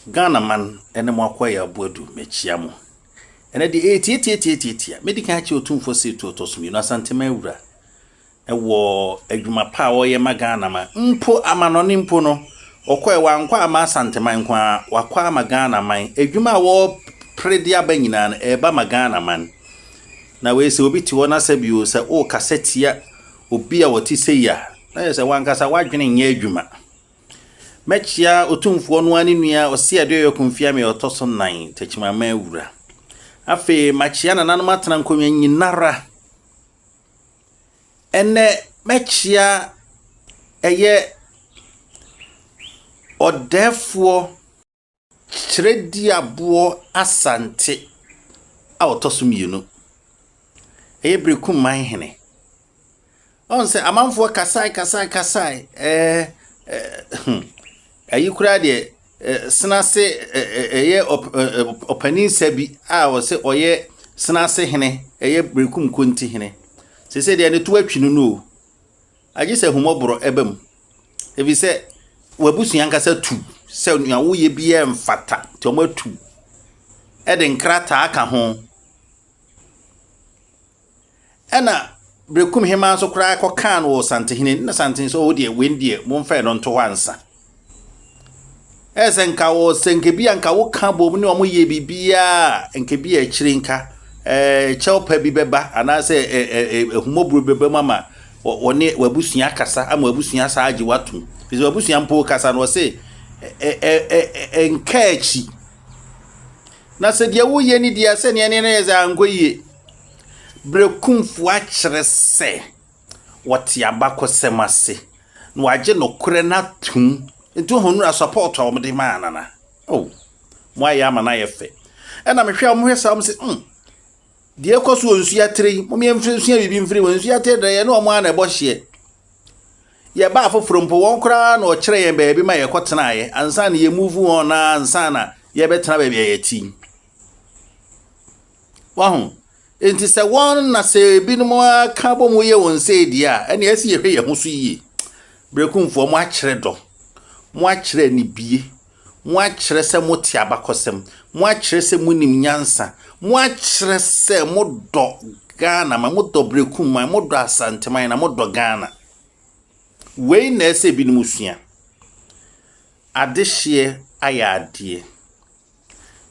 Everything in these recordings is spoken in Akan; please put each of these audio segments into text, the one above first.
Ghana man ne mo akɔ yɛ aboa du mekyia mo ɛnɛ deɛ ee tie tie tie tie tie medi kan akyɛ otumfoɔ sɛ etu ɔtɔ so mmienu asantema awura ɛwɔ adwuma pa a ɔyɛ ma Ghana ma mpo amanɔne mpo no ɔkɔ ɛwɔ ankɔ ama asanteman nko ara wakɔ ama Ghana man adwuma a wɔpere de aba nyinaa no ɛreba ma Ghana man na wei sɛ obi te hɔ na sɛ bio sɛ ɔrekasa tia obi a ɔte sɛ yi a na yɛ sɛ wankasa wadwene nyɛ adwuma Mɛkyea Otumfoɔ no ara ne nua Ɔseɛdeɛyɔ Kofiame a ɔtɔ so nnan, Takyimaman wura. Afei makyea nananom atena nkonnwa nyinara. Ɛnnɛ mɛkyea ɛyɛ ɔdɛɛfoɔ. Twerɛduaboɔ Asante a ɔtɔ so mmienu. Ɛyɛ Berekum man hene. Ɔn sɛ amanfoɔ kasae kasae kasae ɛɛ ɛyi koraa deɛ senase ɛyɛ ɔpanin sa bi a ɔsɛ ɔyɛ senase hene ɛyɛ Berekum Konti hene. Sese deɛ ne to atwi no no o. Agye sɛ ahummɔborɔ ba mu, ɛfiri sɛ w'abusua ankasa tu sɛ nea woyɛ biara mfata, nti wɔatu de nkrataa ka ho. Ɛna Berekum Hemaa nso koraa kɔkaa no wɔ Santehene, na Santehene sɛ ɔɔ deɛ wei deɛ momfa ɛno nto hɔ ansa. Ayɛ sɛ nka wo sɛ nka bi a nka woka bom ne wɔn yɛ biribiara a nka bi a akyire nka ɛɛ kyɛw pa bi bɛba anaasɛ ɛ ɛ ɛ ahumɔborɔ bi bɛba mu ama wɔ wɔne w'abusua akasa ama w'abusua asan agye w'atom fi sɛ w'abusua mpo kasa no wɔse ɛ ɛ ɛ ɛ nka akyi na sɛ deɛ woyɛ ne deɛ sɛ nea ne yɛ sɛ ankɔ yie berɛ kumfoɔ akyerɛ sɛ. wɔte abakɔsɛm ase na wɔagye nokorɛ no atom. Nti wohu nnora support a wɔde maa Nana. Oh, moayɛ ama no ayɛ fɛ. Ɛna mehwɛ a wɔhwɛ saa wɔn sɛ, hmm, deɛ ɛkɔ so wɔ nsuatire yi, wɔn yɛnsua biribi mfiri mu. Nsuatire deɛ yɛne wɔn a na ɛbɔ hyeɛ. Yɛba afoforɔ mpo, wɔn koraa na wɔkyerɛ yɛn baabi ma yɛkɔtenaeɛ ansa na yɛmuvu wɔn na ansa na yɛbɛtena baabi a yɛte yi. Wahu? Enti sɛ wɔn na sɛ ebinom aka bɔ mu yɛ wɔn sei deɛ a, ɛnna ɛsɛ yɛhwɛ yɛn ho so yie. Berekumfoɔ, mo akyerɛ dɔ, mo akyerɛ anibie, mo akyerɛ sɛ mo te abakɔsɛm, mo akyerɛ sɛ mo nim nyansa, mo akyerɛ sɛ mo dɔ Ghana man, mo dɔ Berekum man, mo dɔ Asanteman, na mo dɔ Ghana. Wei na ɛsɛ ebinom sua. Adehyeɛ ayɛ adeɛ.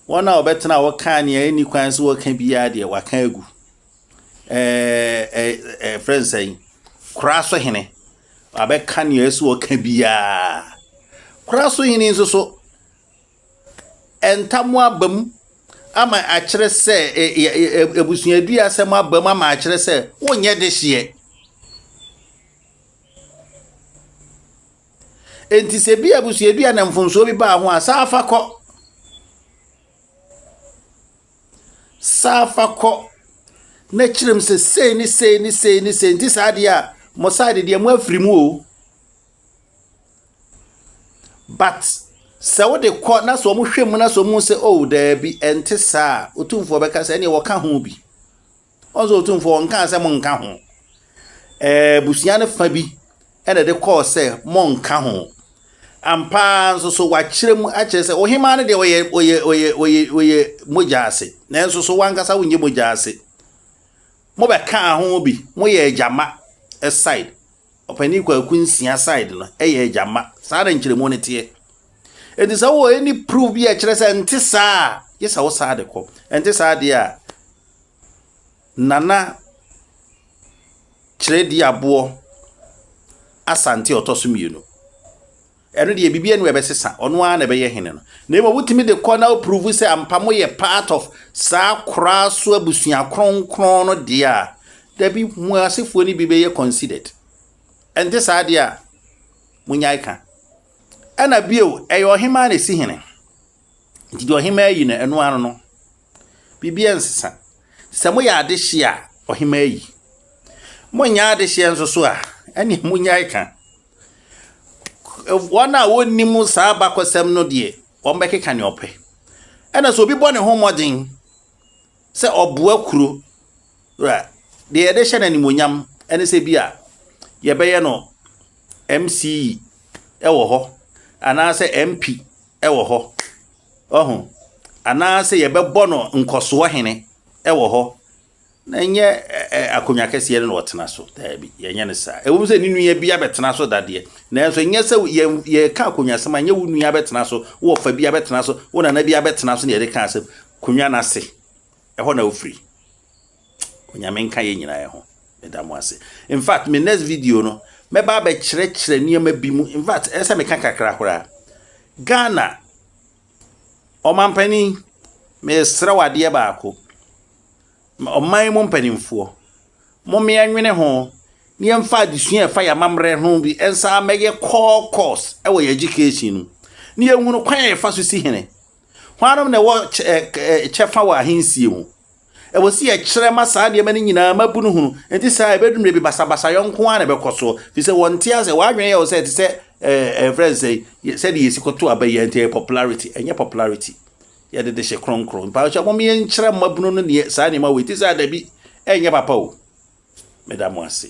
Wɔn a wɔbɛtena a wɔkaa nea ɛnni kwan sɛ wɔka biara deɛ, wɔaka agu. Ɛfrɛ no sɛn? Kora so hene. Wɔabɛka nea ɛsɛ wɔka biara. Kora so hene nso so, ntam aba mu ama akyerɛ sɛ abusuadua asɛm aba mu ama akyerɛ sɛ wonyɛ dehyeɛ. Enti sɛ bi abusua bi a na mfomsoɔ bi baa ho a, saa fa kɔ. Saa fa kɔ na kyerɛ mu sɛ sei ne sei ne sei ne sei nti saa deɛ a mo side deɛ mo afiri mu o. But sɛ wode kɔ na sɛ wɔhwɛ mu na sɛ wɔhu sɛ oh daabi ɛnte saa a, otumfoɔ bɛka sɛ ɛneɛ wɔka ho bi. Ɔse Otumfoɔ ɔnkaa sɛ monnka ho. Ɛɛ abusua no fa bi na ɛde kɔɔ sɛ monnka ho. Ampa ara nso so wɔakyerɛ mu akyerɛ sɛ Ohemaa no deɛ ɔyɛ ɔyɛ ɔyɛ ɔyɛ ɔyɛ mogya ase nanso so wankasa wonyɛ mogya ase. Mobɛkaa ho bi, moyɛ agyama side. Ɔpanin Kwaku Nsia side no yɛ agyama. Saa na nkyerɛmu no teɛ. Enti sɛ wowɔ ɛni proof bi a ɛkyerɛ sɛ ɛnte saa a, gye sɛ wo saa de kɔ. Ɛnte saa deɛ a, Nana Kyerɛdii aboɔ Asante a ɔtɔ so mmienu. Ɛno deɛ biribiara ni ɛbɛsesa ɔno ara na ɛbɛyɛ hene no. Na mmom wotumi de kɔ na wopuruvu sɛ ampa mo yɛ part of saa koraa so abusua kronkron no deɛ a dabi mo asefoɔ no bi bɛyɛ considered. Ɛnte saa deɛ a monyae ka. Ɛna bio ɛyɛ ɔhemaa na ɛsi hene. Nti deɛ ɔhemaa yi no ɛno ano no. Biribiara nsesa. Sɛ moyɛ adehyeɛ a, ɔhemaa yi. Monyɛ adehyeɛ nso so a, ɛne monnyae ka. Wɔn a wɔnnim saa bakɔsɛm no deɛ, wɔbɛkeka ne ɔpɛ. Ɛna sɛ obi bɔ ne ho mmɔden sɛ ɔboa kuro a, deɛ yɛde hyɛ no animonyam ɛne sɛ bi a yɛbɛyɛ no MCE ɛwɔ hɔ anaasɛ MP ɛwɔ hɔ Wahu? Anaasɛ yɛbɛbɔ no nkɔsoɔ hene wɔ hɔ, na ɛnyɛ akonnwa kɛseɛ no na ɔtena so. Daabi, yɛnyɛ no saa. Ɛwom sɛ ne nua bi abɛtena so dadeɛ, nanso ɛnyɛ sɛ yɛka akonnwa asɛm a, ɛnyɛ wo nua abɛtena so, wo ɔfa bi abɛtena so, wo nana bi abɛtena so na yɛde ka asɛm. Akonnwa no ase, ɛhɔ na wofiri. Onyame nka yɛn nyinaa ho. Meda mo ase. In fact, me next video no, mɛba abɛkyerɛkyerɛ nneɛma bi mu. In fact, ɛsɛ meka kakra koraa. Ghana, ɔmampanin, mesrɛ wo adeɛ baako. Ɔman mu mpanimfoɔ, mommea nwene ho na yɛmfa adesua a ɛfa yɛn amammerɛ ho bi nsa mɛyɛ core course wɔ yɛn education no na yɛhunu kwan a yɛfa so si hene. Hwanom na ɛwɔ kyɛfa wɔ ahensie mu? Ɛwɔ sɛ yɛkyerɛ ma saa nneɛma no nyinaa mmabunu hunu. Enti saa a, ɛbɛdu mmerɛ bi basabasayɔ nko ara na ɛbɛkɔ soɔ, firi sɛ wɔnte aseɛ. Wɔn adwene yɛ wo sɛ ɛte sɛ ɛɛ ɛmfrɛ no sɛn, sɛdeɛ yɛsi kɔto aba yi a, nti ɛyɛ popularity. Ɛnyɛ popularity. Yɛde de hyɛ kronkron. Mpakyɛ mom yɛnkyerɛ mmabunu no deɛ saa nneɛma wei te sɛ a, dabi, ɛnyɛ papa o. Meda mo ase.